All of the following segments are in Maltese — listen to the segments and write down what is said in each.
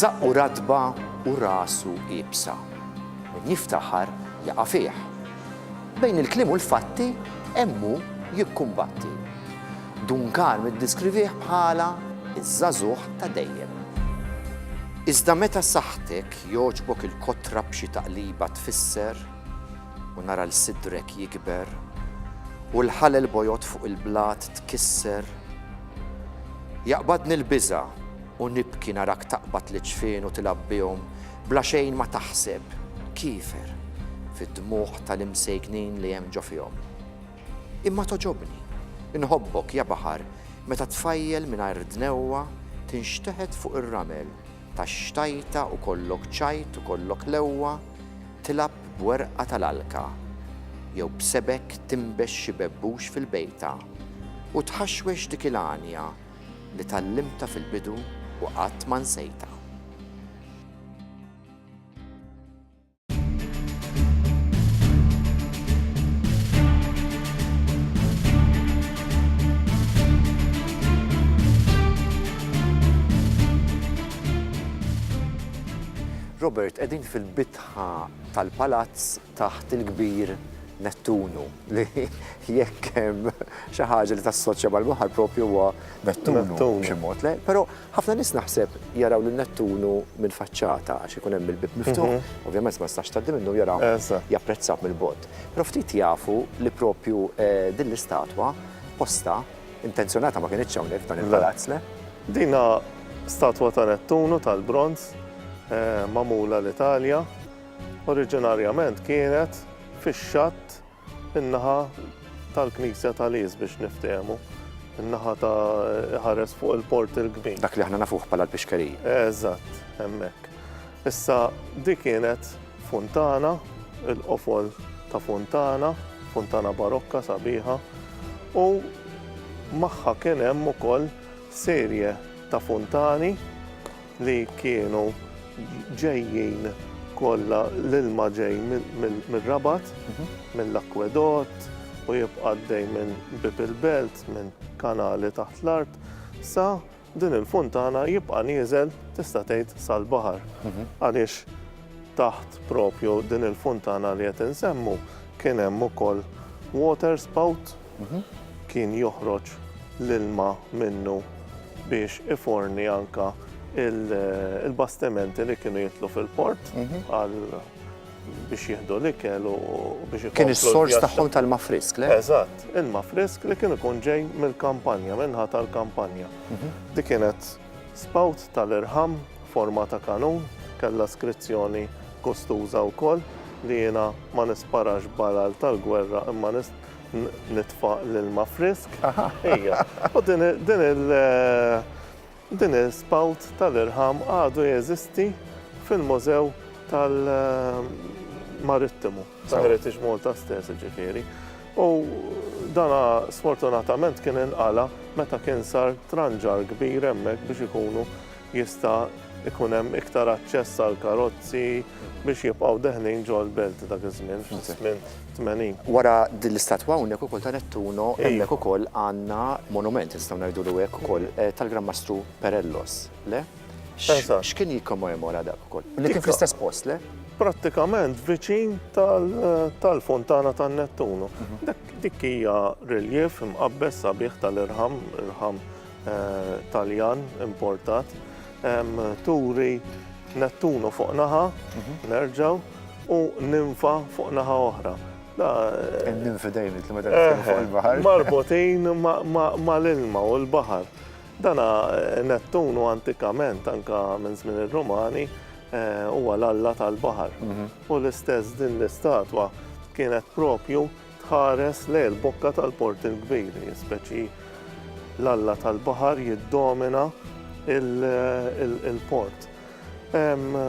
Żaqqu ratba u rasu iebsa. Min jiftaħar jaqa' fih. Bejn il-kliem u l-fatti hemm hu jikkumbatti. Dun Karm iddiskrivih bħala ż-żagħżugħ ta' dejjem. Iżda meta saħħtek jogħġbok il-kotra b'xi taqliba tfisser u nara 'l sidrek jikber u l-ħalel bojod fuq il-blat tkisser. Jaqbadni l-biża' u nibki narak taqbad l-iġfien u tilgħab bihom bla xejn ma taħseb, kiefer, fid-dmugħ tal-imsejknin li hemm ġo fihom. Imma togħġobni, inħobbok, ja baħar, meta tfajjel mingħajr dnewwa tinxteħet fuq ir-ramel, Tax-xtajta u kollok ċajt u kollok lewwa tilgħab b'werqa tal-għalka jew b'sebek tinbex xi bebbux fil-bejta u tħaxwex dik il-għanja li tgħallimtha fil-bidu u qatt ma nsejtha. Robert, qegħdin fil-bitħa tal-palazz taħt il-kbir Nettunu li jekk hemm xi ħaġa li tassoċja mal-baħar propju huwa Nettunu b'xi mod. Però Ħafna nies naħseb jaraw lil Nettunu mill-faċċata għax ikun hemm il-bieb miftuħ, ovvjament ma tistax tgħaddi minnu jara japprezzah mill-bogħod. Però ftit jafu li propju din l-istatwa posta, intenzjonata ma kinitx hawnhekk f'dan il-palazz, le? Din hi statwa ta' Nettunu tal-bronż magħmula l-Italja. Oriġinarjament kienet fix-xatt. In-naħa tal-Knisja ta' Lies biex niftehmu. In-naħa ta' ħares fuq il-port il-kbir. Dak li aħna nafuh bħala l-pixkerija. Eżatt, hemmhekk. Issa di kienet funtana, il-qofol ta' funtana, funtana barokka sabiħa, u magħha kien hemm ukoll serje ta' funtani li kienu ġejjin kollha l-ilma ġej mir-Rabat, mill-akwedott u jibqa' għaddej minn bieb il-belt, minn kanali taħt l-art, sa din il-funtana jibqa' nieżel tista' tgħid sal-baħar. Għaliex taħt propju din il-funtana li qed insemmu kien hemm ukoll water spout kien joħroġ l-ilma minnu biex iforni anke l-bastimenti li kienu jidħlu fil-port biex jieħdu l-ikel u biex ikunu. Kien is-sors tagħhom tal-ma frisk, le? Eżatt, il-ma frisk li kien ikun ġej mill-kampanja, minnha tal-kampanja. Mhm. Di kienet spout tal-irħam forma ta' kanun, kellha skrizzjoni kostuża wkoll li jiena ma nisparax balal tal-gwerra imma nitfaq l-ilma frisk. Ija, u din il- din il-spout tal-irħam għadu jeżisti fil-Mużew tal-Marittimu, ta' Heritage Malta stess ġifieri. U dana sfortunatament kien inqala meta kien sar tranġar kbir hemmhekk biex ikunu jista' jkun hemm iktar aċċess għal karozzi biex jibqgħu deħlin ġol belt dak iż-żmien fis-snin 80. Wara din l-istatwa hawnhekk ukoll ta' Nettuno hemmhekk ukoll għandna monument nistgħu ngħidulu hekk ukoll tal-Gran Mastru Perellos, le? X'kien jikkommemora dak ukoll? Li kien fl-istess post, le? Prattikament viċin tal-Fontana tan-Nettuno. Dik hija reljev imqabbes sabiħ tal-irħam, irħam Taljan importat, turi Nettunu fuq naħa, mhm. nerġaw, u ninfa fuq naħa oħra. Ninfi dejjem li meta eh, fuq il-baħar. Marbutin ma' l-ilma u l-baħar. Dana eh, Nettunu antikament anka minn żmien ir-Rumani eh, huwa l-alla tal-baħar. Mhm. U l-istess din l-istatwa kienet propju Tħares lejn il-bokka tal-Port il-Kbir, speċi l-alla tal-baħar jiddomina il-port.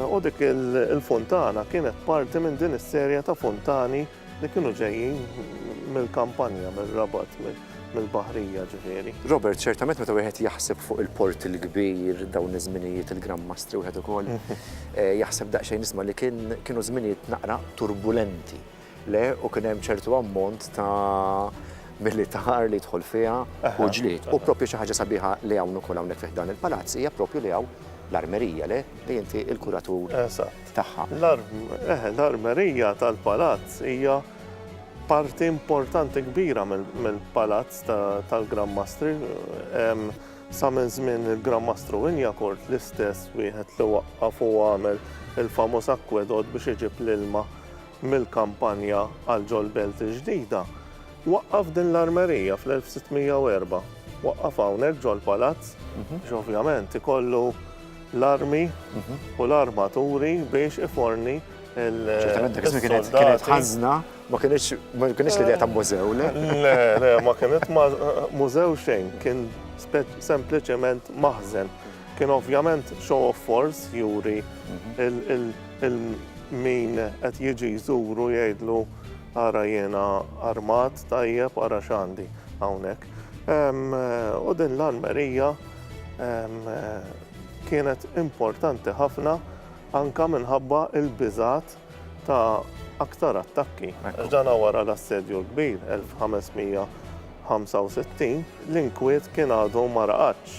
U dik il-fontana kienet parti minn din is-serja ta' fontani li kienu ġejjin mill-kampanja, mill-rabat, mill-baħrija ġifieri. Robert, ċertament meta wieħed jaħseb fuq il-port il-kbir dawn iż-żminijiet il-Gran Mastri wieħed ukoll eh, jaħseb daqsxejn nisma' li kienu żminijiet naqra turbulenti. Le, u kien hemm ċertu ammont ta' militar li jidħol fiha u ġlied. U proprju xi ħaġa sabiħa li hawn ukoll hawnhekk fi ħdan il-palazz hija proprju li hawn l-armerija, le? Li inti l-kuratur tagħha. L-armerija tal-palazz hija parti importanti kbira mill-palazz tal-Gran Mastri. Sa minn żmien il-Gran Mastru Wynyacourt l-istess wieħed li waqqaf u għamel il-famuż akwedott biex iġib l-ilma mill-kampanja għal Ġol Belt il-ġdida, waqqaf din l-armerija fl-1604. Waqqaf hawnhekk ġol-palazz biex ovvjament ikollu l-armi u l-armaturi biex iforni Ċertament dak iż-żmien kienet kienet ħażna, ma kienx ma kienx l-idea ta' mużew, le? Le, le, ma kienet mużew xejn, kien sempliċement maħżen. Kien ovvjament show of force juri il-min qed jiġi jżuru jgħidlu ara jiena armat tajjeb ara x'għandi hawnhekk. U din l-armerija kienet importanti ħafna anka minħabba il-biżat ta' aktar attakki. Ġdana wara l-Assedju l-Kbir 1565, l-inkwiet kien għadu ma raqadx.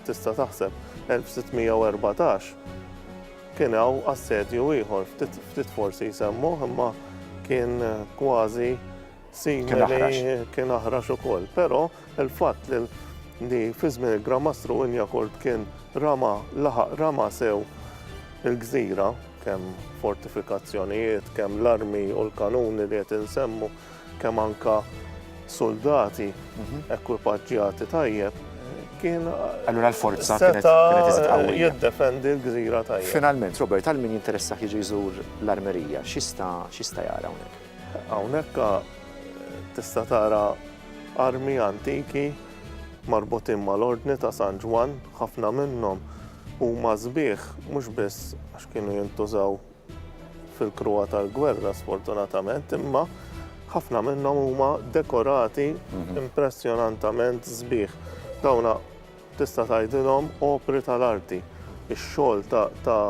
Tista' taħseb, 1614 kien hawn assedju ieħor, ftit forsi jsemmuh imma kien kważi Simili kien aħrax ukoll, però il-fatt li fi żmien il-Gran Mastru Injakurt kien rama laħaq rama sew il-gżira, kemm fortifikazzjonijiet, kemm l-armi u l-kanuni li qed insemmu, kemm anka soldati mhm. ekwipaġġjati tajjeb, kien. Allura l-forza kienet jiddefendi l-gżira tajjeb. Finalment, Robert, għal min jinteressa jiġi jżur l-armerija, xista jara hawnhekk? Hawnhekk tista' tara armi antiki marbutin mal-Ordni ta' San Ġwann, ħafna minnhom huma sbieħ mhux biss għax kienu jintużaw fil-kruha tal-gwerra sfortunatament, imma ħafna minnhom huma dekorati mhm. impressjonantament sbieħ. Dawna Tista' tgħidilhom opri tal-arti, ix-xogħol ta'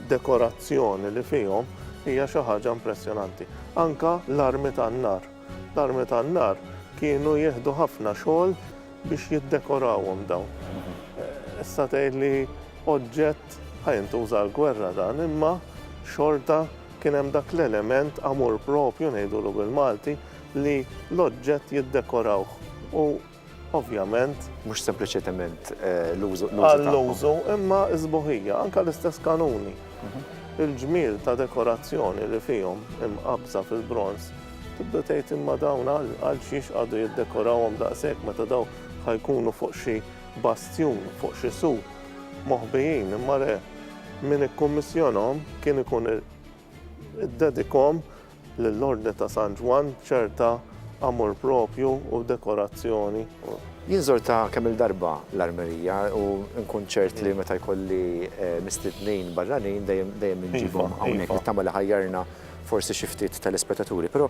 dekorazzjoni li fihom hija xi ħaġa impressjonanti. Anke l-armi tan-nar. L-armi tan-nar kienu jieħdu ħafna xogħol biex jiddekorawhom dawn. Issa tgħid li oġġett ħa jintuża għall-gwerra dan, imma xorta kien hemm dak l-element amur proprio ngħidulu bil-Malti li l-oġġett jiddekorawh u Ovvjament. Mhux sempliċement eh, l-użu. Għall-użu, imma iżbuħija, anke l-istess kanuni. Mhm. Il-ġmiel ta' dekorazzjoni li fihom imqabża fil-bronz tibda tgħid imma dawn għal xiex għadu jiddekorawhom daqshekk meta daw ħajkunu fuq xi bastjun, fuq xi su moħbijin, imma le min ikkummissjonhom kien ikun Iddedikhom lill-Ordni ta' San Ġwann b'ċerta amur proprju u dekorazzjoni. Jien żortha kemm-il darba l-armerija u nkun ċert li meta jkolli mistednin barranin dejjem inġibhom hawnhekk. Nittama li ħajjarna forsi xi ftit telespettaturi. Però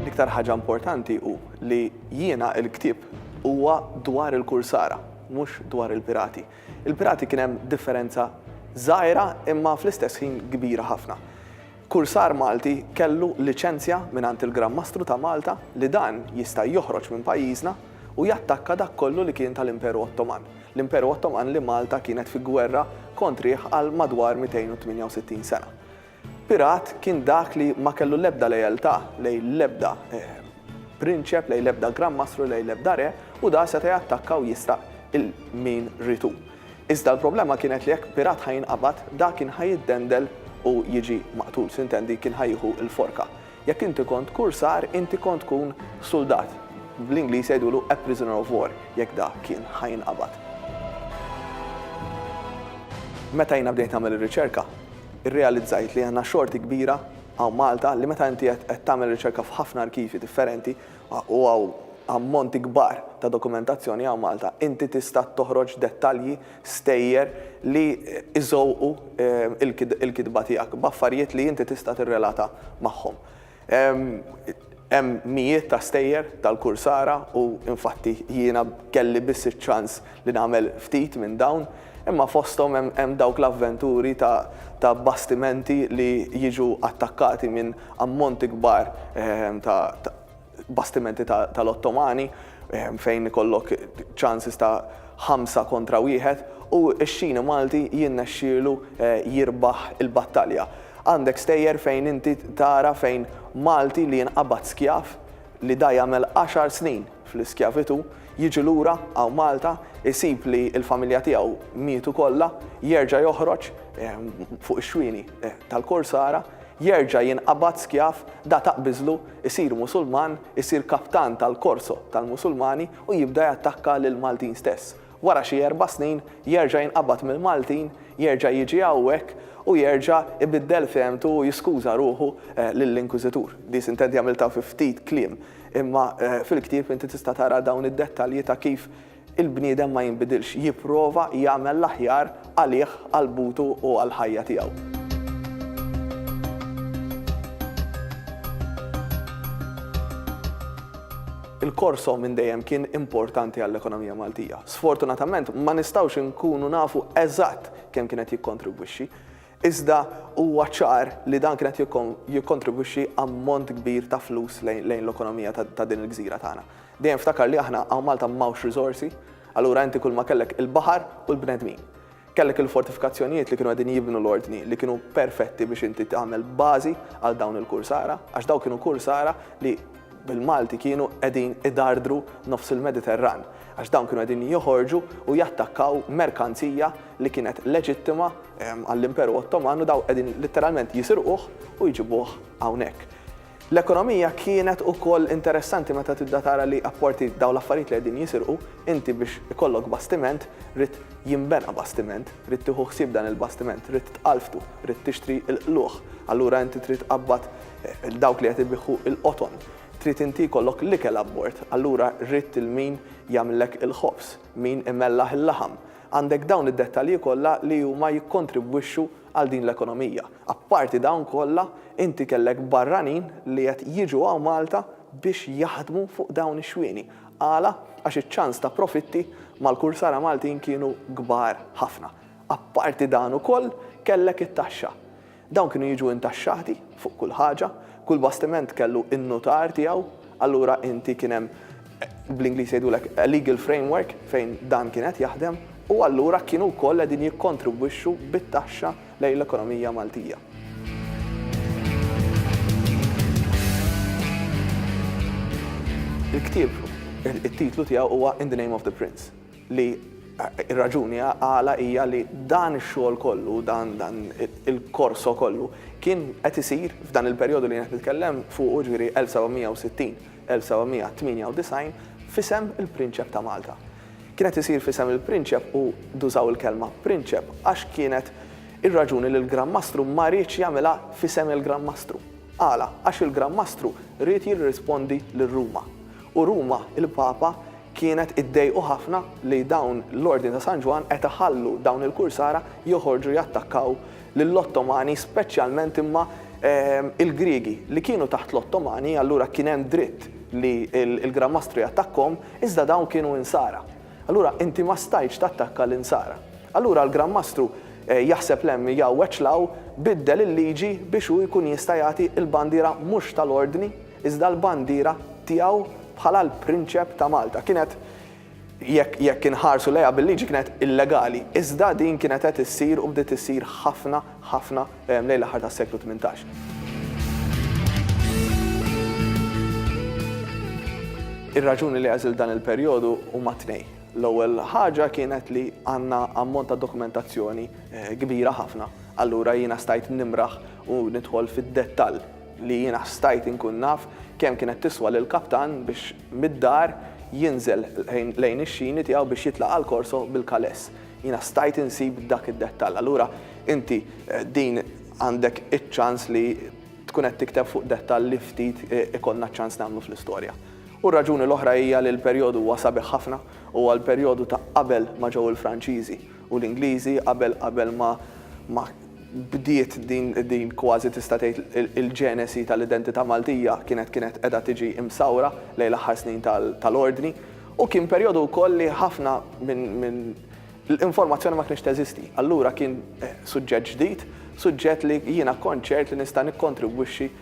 L-iktar ħaġa importanti hu li jiena il-ktieb huwa dwar il-kursara, mhux dwar il-pirati. Il-pirati kien hemm differenza żgħira imma fl-istess ħin kbira ħafna. Kursar Malti kellu liċenzja mingħand il-Gran Mastru ta' Malta li dan jista' joħroġ minn pajjiżna u jattakka dak kollu li kien tal-Imperu Ottoman, l-Imperu Ottoman li Malta kienet fi gwerra kontrih għal madwar 268 sena. Pirat kien dak li ma kellu l-ebda lealtà lejn l-ebda prinċep, lejn l-ebda Gran Mastru, lejn l-ebda re u da seta' jattakka u jisraq il-min ried hu. Iżda l-problema kienet li jekk pirat ħa jinqabad, dak kien ħa jiddendel u jiġi maqtul, sintendi kien ħa jieħu l-forka. Jekk inti kont kursar, inti kont tkun suldat, bl-Ingliż jgħidulu a prisoner of war, jekk da kien ħa jinqabad. Meta jiena bdejt nagħmel ir-riċerka, irrealizzajt li għandna xorti kbira hawn Malta li meta inti qed tagħmel riċerka f'ħafna arkivji differenti, u hawn ammonti kbar ta' dokumentazzjoni hawn Malta, inti tista' toħroġ dettalji, stejjer li jżewqu l-kitba tiegħek b'affarijiet li inti tista' tirrelata magħhom. Hemm mijiet ta' stejjer tal-Kursara u infatti jiena kelli biss iċ-ċans li nagħmel ftit minn dawn, imma fosthom hemm hemm dawk l-avventuri ta' ta' bastimenti li jiġu attakkati minn ammonti kbar ta' ta' bastimenti ta' tal-Ottomani fejn ikollok chances ta' ħamsa kontra wieħed u x-xini Malti jinnexxielu jirbaħ il-battalja. Għandek stejjer fejn inti tara fejn Malti li jinqabad skjav li da jagħmel għaxar snin, fl-iskjavitù, jiġi lura hawn Malta, isib li l-familja tiegħu mietu kollha, jerġa' joħroġ fuq ix-xwieni tal-Kursara, jerġa' jinqabad skjav, da taqbiżlu, isir Musulman, isir kaptan tal-korso tal-Musulmani u jibda jattakka lill-Maltin stess. Wara xi erba' snin jerġa' jinqabad mill-Maltin, jerġa' jiġi hawnhekk u jerġa' jbiddel fehmtu u jiskuża ruħu lill-Inkwiżitur. Di sintenti għamiltha fi ftit kliem. Imma fil-ktieb inti tista' tara dawn id-dettalji ta' kif il-bniedem ma jinbidilx, jipprova jagħmel l-aħjar għalih, għal butu u għall-ħajja tiegħu. Il-Korso minn dejjem kien importanti għall-ekonomija Maltija. Sfortunatament ma nistgħux inkunu nafu eżatt kemm kien qed jikkontribwixxi. Iżda huwa ċar li dan kien qed jikkontribwixxi ammont kbir ta' flus lejn l-ekonomija ta' din il-gżira tagħna. Dejjem ftakar li aħna hawn Malta m'hawnx riżorsi, allura inti kulma kellek il-baħar u l-bnedmin. Kellek il-fortifikazzjonijiet li kienu qegħdin jibnu l-ordni li kienu perfetti biex inti tagħmel bażi għal dawn il-kursara għax dawn kienu kursara li bil-Malti kienu qegħdin idardru nofs il-Mediterran għax dawn kienu qegħdin joħorġu u jattakkaw merkanzija li kienet leġittima għall-Imperu Ottoman u daw qegħdin litteralment jisirquh u jġibuh hawnhekk. L-ekonomija kienet ukoll interessanti meta tibda tara li apparti daw l-affarijiet li qegħdin jisirqu, inti biex ikollok bastiment rid jinbena bastiment, rid tieħu ħsieb dan il-bastiment, rid tqalftu, rid tixtri l-qlugħ, allura inti trid tqabbad dawk li qed ibigħu l-qoton. Trid inti jkollok l-ikel abbord, allura ridt il-min jagħmlilek il-ħobż, min imellaħ il-laħam. Għandek dawn id-dettalji kollha li huma jikkontribwixxu għal din l-ekonomija. Apparti dawn kollha, inti kellek barranin li qed jiġu hawn Malta biex jaħdmu fuq dawn ix-xwieni. Għala? Għax iċ-ċans ta' profitti mal-kursara Maltin kienu kbar ħafna. Apparti dan ukoll kellek it-taxxa. Dawn kienu jiġu intaxxati fuq kull ħaġa, kull bastiment kellu n-nutar tiegħu, allura inti kien hemm, bl-Ingliż jgħidulek, a legal framework fejn dan kien qed jaħdem u allura kienu wkoll qegħdin jikkontribwixxu bit-taxxa lejn l-ekonomija Maltija. Il-ktieb, it-titlu tiegħu huwa In the Name of the Prince. li r-raġuni għala hija li dan ix-xogħol kollu, dan dan il-korso kollu kien qed isir f'dan il-perjodu li jien qed nitkellem fuqu, jiġifieri 1760, 1798, f'isem il-Prinċep ta' Malta. Kien qed isir f'isem il-Prinċep u dużaw il-kelma Prinċep għax kienet ir-raġuni li l-Gran Mastru ma riedx jagħmilha f'isem il-Gran Mastru. Għala? Għax il-Gran Mastru ried jirrispondi lil Ruma. U Ruma, il-Papa, Kienet iddejqu ħafna li dawn l-Ordni ta' San Ġwann qed iħallu dawn il-kursara joħorġu jattakkaw lill-Ottomani speċjalment imma il-Griegi li kienu taħt l-Ottomani allura kien hemm dritt li l-Gran Mastru jattakkhom iżda dawn kienu Insara. Allura inti ma stajtx tattakka l-Insara. Allura l-Gran Mastru jaħseb lemm jgħawweġ 'l hawn biddel il-liġi biex hu jkun jista' jagħti l-bandiera mhux tal-Ordni Iżda l-bandiera tiegħu bħala l-Prinċep ta' Malta kienet, jekk jekk inħarsu lejha bil-liġi kienet illegali, iżda din kienet qed issir u bdiet issir ħafna ħafna lejn l-aħħar tas-seklu tmintax. Ir-raġuni li għażilt dan il-perjodu huma tnejn. L-ewwel ħaġa kienet li għandna ammont ta' dokumentazzjoni kbira ħafna, allura jiena stajt nimraħ u nidħol fid-dettall. li jiena stajt inkun naf kemm kienet tiswa lill-kaptan biex mid-dar jinżel lejn ix-xini tiegħu biex jitlaq għall-korso bil-kaless. Jiena stajt insib dak id-dettall. Allura inti din għandek iċ-ċans li tkun qed tikteb fuq dettall li ftit ikollna ċ-ċans nagħmlu fl-istorja. U r-raġuni l-oħra hija li l-perjodu huwa sabiħ ħafna, huwa l-perjodu ta' qabel ma ġew il-Franċiżi u l-Ingliżi, qabel qabel ma ma bdiet din din kważi tista' tgħid il-ġenesi tal-identità Maltija kienet kienet qiegħda tiġi msawra lejn l-aħħar snin tal-Ordni u kien perjodu wkoll li ħafna minn minn l-informazzjoni ma kinitx teżisti. Allura kien suġġett ġdid, suġġett li jiena kont ċert li nista' nikkontribwixxi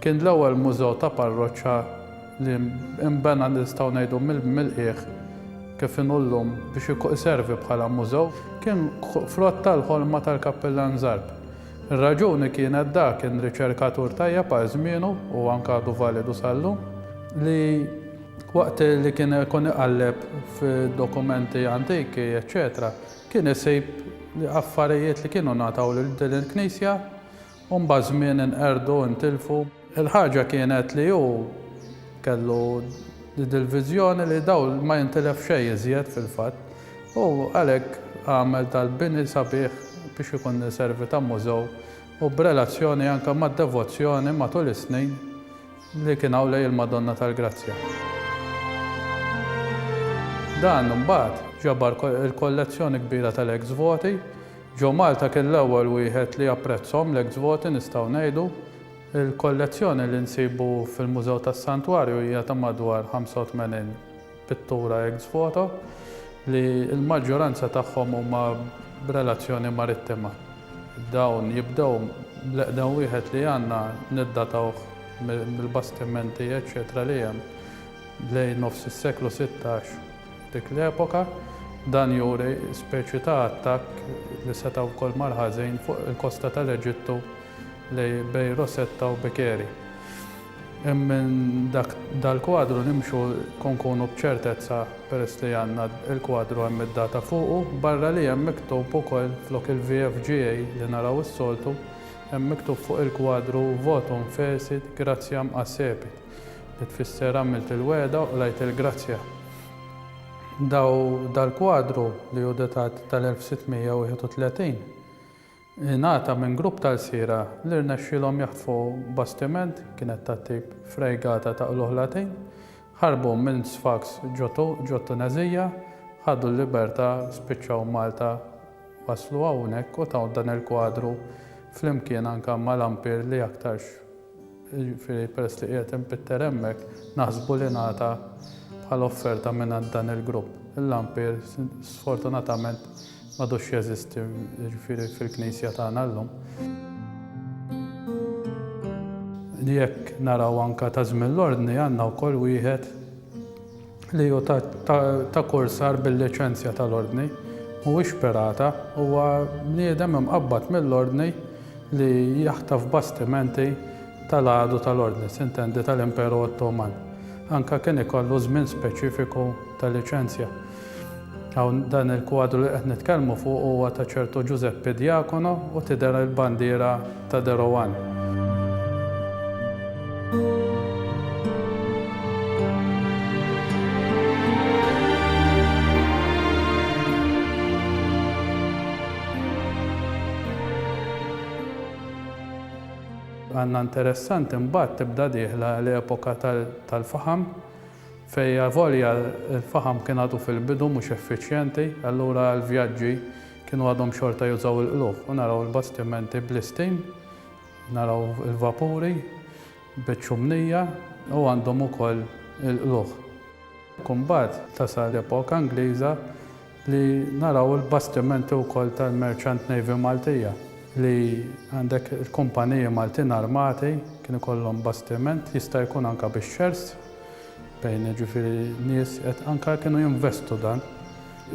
Kien l-ewwel mużew ta' parroċċa li nbena nistgħu ngħidu mill-qiegħ kif inhu llum biex iservi bħala mużew. Kien frott tal-ħolma tal-Kappillan Zarb. Ir-raġuni kienet dak kien riċerkatur tajjeb għal żmienu u anke għadu validu sal-lum li waqt li kien ikun iqalleb f'dokumenti antiki eċċetera kien isib affarijiet li kienu ngħataw lil din il-knisja U mbagħad żmien inqerdu, intilfu. Il-ħaġa kienet li hu kellu dik il-viżjoni li dawl ma jintilef xejn iżjed fil-fatt u għalhekk għamel dal-bini sabiħ biex ikun iservi ta' mużew u b'relazzjoni anke mad-devozzjoni matul is-snin li kien hawn lejn il-Madonna tal-Grazzja. Dan imbagħad ġabar il-kollezzjoni kbira tal-ex voti Joe Malta kien l-ewwel wieħed li apprezzhom l-eks voti nistgħu ngħidu. Il-kollezzjoni li nsibu fil-Mużew tas-Santwarju hija ta' madwar 85 pittura eks voto li l-maġġoranza tagħhom huma b'relazzjoni marittima. Dawn jibdew bl-eqdem wieħed li għandna niddatawh mill-bastimenti eċċetera li hemm lejn nofs is-seklu sittax. Dik l-epoka, dan juri speċi ta' attakk li seta' wkoll mar ħażin fuq il-kosta tal-Eġittu lejn bejn Rosetta u Bikeri. Hemm minn dak dal-kwadru nimxu u nkunu b'ċertezza peress li għandna il-kwadru hemm id-data fuqu, barra li hemm miktub ukoll flok il-VFGA li naraw is-soltu, hemm miktub fuq il-kwadru Votum fecit gratiam accepit. Li tfisser għamilt il-wegħda u qlajt il-grazzja. Daw dal-kwadru, li hu datat tal-1631, ingħata minn grupp ta' lsiera li rnexxielhom jaħtfu bastiment, kienet tat-tip frejgata ta' qlugħ Latin, ħarbu minn Sfax ġo t-Tuneżija, ħadu l-libertà, spiċċaw Malta, waslu hawnhekk u taw dan il-kwadru flimkien anke mal-ampir li aktarx Jiġifieri peress li qiegħed inpitter hemmhekk, naħsbu li ngħata bħala offerta mingħand dan il-grupp. Il-lampir sfortunatament m'għadux jeżisti jiġifieri fil-knisja tagħna llum. Jekk naraw anke ta' żmien l-Ordni għandna wkoll wieħed. li hu ta' kursar bil-liċenzja tal-Ordni, mhuwiex pirata, huwa bniedem imqabbad mill-Ordni li jaħtaf bastimenti tal-għadu tal-Ordni, sintendi tal-Imperu Ottoman, anke kien ikollu żmien speċifiku ta' liċenzja. Hawn dan il-kwadru li qed nitkellmu fuqu huwa ta' ċertu Ġużeppi Diacono u tidher il-bandiera ta' Derowan. Għandna interessanti mbagħad tibda dieħla l-epoka tal-faħam. Fejn avolja l-faħam kien għadu fil-bidu mhux effiċjenti, allura għall-vjaġġi kienu għadhom xorta jużaw il-qlugħ u naraw il-bastimenti bl-istim, naraw il-vapuri biċ-ċumnija u għandhom ukoll il-qlugħ. Imbagħad tasal l-epoka Ingliża li naraw il-bastimenti wkoll tal-Merchant Navy Maltija li għandek il-kumpaniji Maltin armati kien ikollhom bastiment jista' jkun anke bix-shares bejn jiġifieri nies qed anke kienu jinvestu dan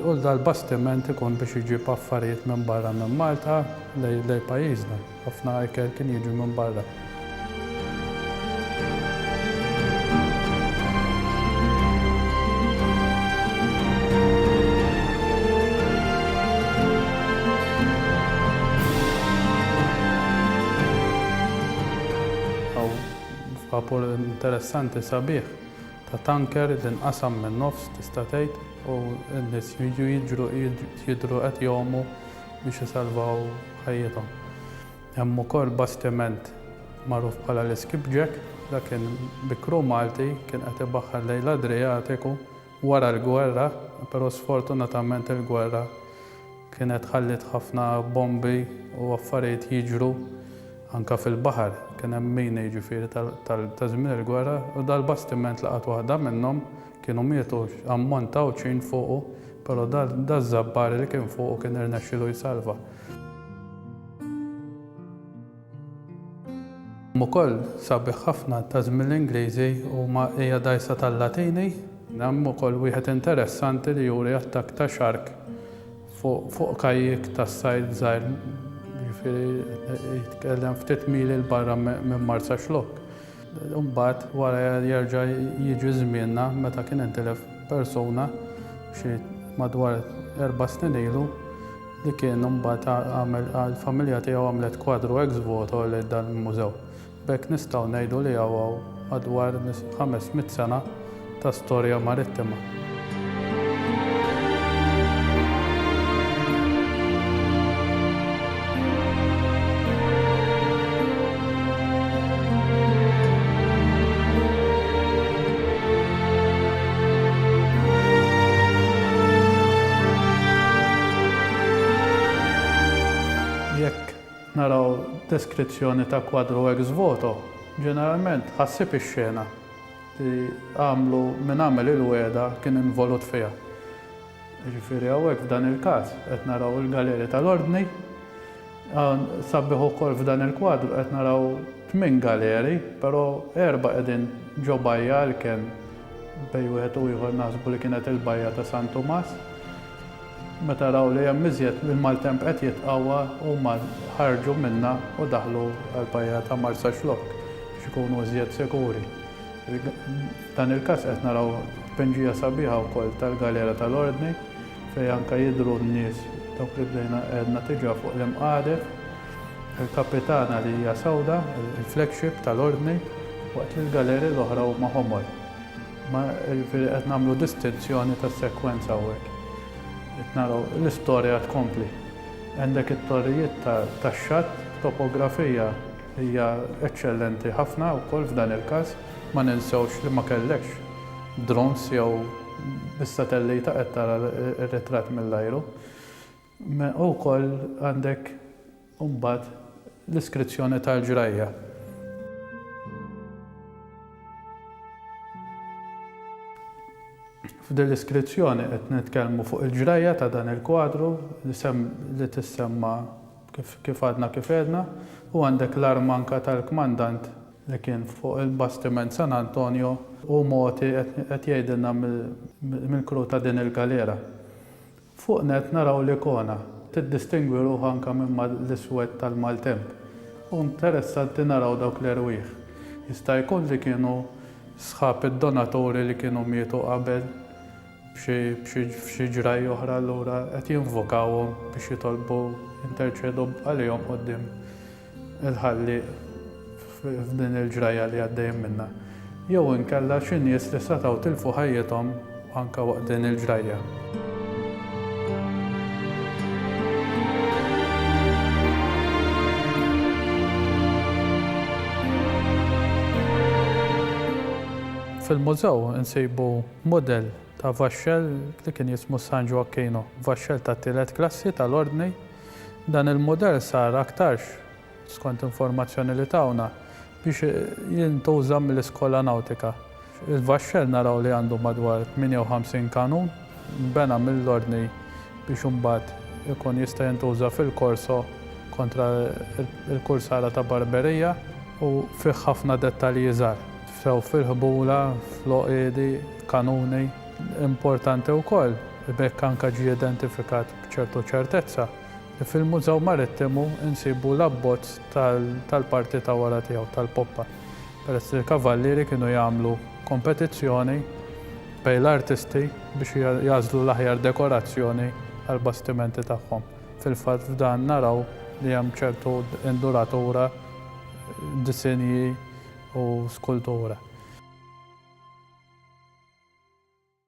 u dal-bastiment ikun biex iġib affarijiet minn barra minn Malta lejn pajjiżna. Ħafna ikel kien jiġi minn barra. vapur interessanti sabiħ ta' tanker li nqasam minn nofs tista' tgħid u n-nies jiġru jidru qed jgħumu biex isalvaw ħajjithom. Hemm ukoll bastiment magħruf bħala l-Skipjack, dak kien bi crew Malti, kien qed ibaħħar lejn l-Adriatiku wara l-gwerra, però sfortunatament il-gwerra kienet ħalliet ħafna bombi u affarijiet jiġru anke fil-baħar. Kien hemm mini jiġifieri ta' żmien il-gwerra u dal-bastiment laqat waħda minnhom Kienu mietu ammont ta' Għawdxin fuqu, però daz-Żabbar li kien fuqu kien irnexxielu jsalva. Ukoll sabiħ ħafna ta' żmien l-Ingliżi huma hija dgħajsa tal-Latini. Hemm ukoll wieħed interessanti li juri attakk ta' xark fuq kajjik tas-sajd żgħir, jiġifieri jitkellem ftit mili 'l barra minn Marsaxlokk. U mbagħad wara jerġa' jiġi żmienna meta kien intilef persuna xi madwar erba' snin ilu li kien imbagħad għamel il-familja tiegħu għamlet kwadru ex voto lejn dan il-mużew. B'hekk nistgħu ngħidu li hawn madwar ħames mitt sena ta' storja marittima. naraw deskrizzjoni ta' kwadru ex voto, ġeneralment ħassib ix-xena. li għamlu min għamel il-wegħda kien involut fiha. Jiġifieri hawnhekk f'dan il-każ qed naraw il-Galeri tal-Ordni, sabiħ ukoll f'dan il-kwadru qed naraw tmien galeri, però erbgħa qegħdin ġo bajja għalkemm bejn wieħed u ieħor naħsbu li kienet il-bajja ta' San Tumas. Meta raw li hemm iżjed il-maltemp qed jitqawwa, huma ħarġu minnha u daħlu għall-bajja ta' Marsaxlokk biex ikunu iżjed sikuri. F'dan il-każ qed naraw tpinġija sabiħa wkoll tal-Galera tal-Ordni fejn anke jidhru n-nies dawk li bdejna għedna diġà fuq l-imqadef. Il-Kapitana li hija sewda, il-flagship tal-Ordni, waqt li l-galeri l-oħra huma ħomor. Ma jiġifieri qed nagħmlu distinzjoni ta' sekwenza hawnhekk. Qed naraw l-istorja tkompli. Għandek it-torrijiet tax-xatt, topografija hija eċċellenti ħafna wkoll f'dan il-każ, ma ninsewx li ma kellekx drones jew bis-satellita qed tara r-ritratt mill-ajru. Imma wkoll għandek imbagħad l-iskrizzjoni tal-ġrajja. F'din l-iskrizzjoni qed nitkellmu fuq il-ġrajja ta' dan il-kwadru li tissemma kif għadna kif għedna u għandek l-arma anke tal-kmandant li kien fuq il-bastiment San Antonio u mogħti qed jgħidilna mill-crew ta' din il-galera. Fuq nett naraw li Kona tiddistingwi ruħha anke minn ma' l-iswed tal-maltemp u interessanti naraw dawk l-erwieħ. Jista' jkun li kienu sħab id-donaturi li kienu mietu qabel b'xi ġrajja oħra allura qed jinvokawhom biex jitolbu jinterċedu għalihom quddiem il-ħalli f'din il-ġrajja li għaddejjin minnha jew inkella xi nies li setgħu tilfu ħajjithom anke waqt din il-ġrajja. Fil-mużew insibu model ta' vaxxel li kien jismu San Joaquino, vaxxel ta' tielet klassi tal-ordni Dan il-mudell sar aktarx, skont informazzjoni li tawna, biex jintuża mill-Iskola Nawtika. Il-vaxxell naraw li għandu madwar 58 kanun, nbena mill-ordni biex imbagħad ikun jista' jintuża fil-korso kontra l-kursara ta' Barberija u fih ħafna dettalji żgħar, sew fil-ħbula, fl-għoqiedi, kanuni. Importanti wkoll, b'hekk anke ġie identifikat B'ċertu ċertezza, fil-Mużew Marittimu nsibu l-abbozz tal-parti ta' wara tiegħu, tal-poppa, peress li l-kavallieri kienu jagħmlu kompetizzjoni bejn l-artisti biex jagħżlu l-aħjar dekorazzjoni għall-bastimenti tagħhom. Fil-fatt f'dan naraw li hemm ċertu induratura, disinji u skultura.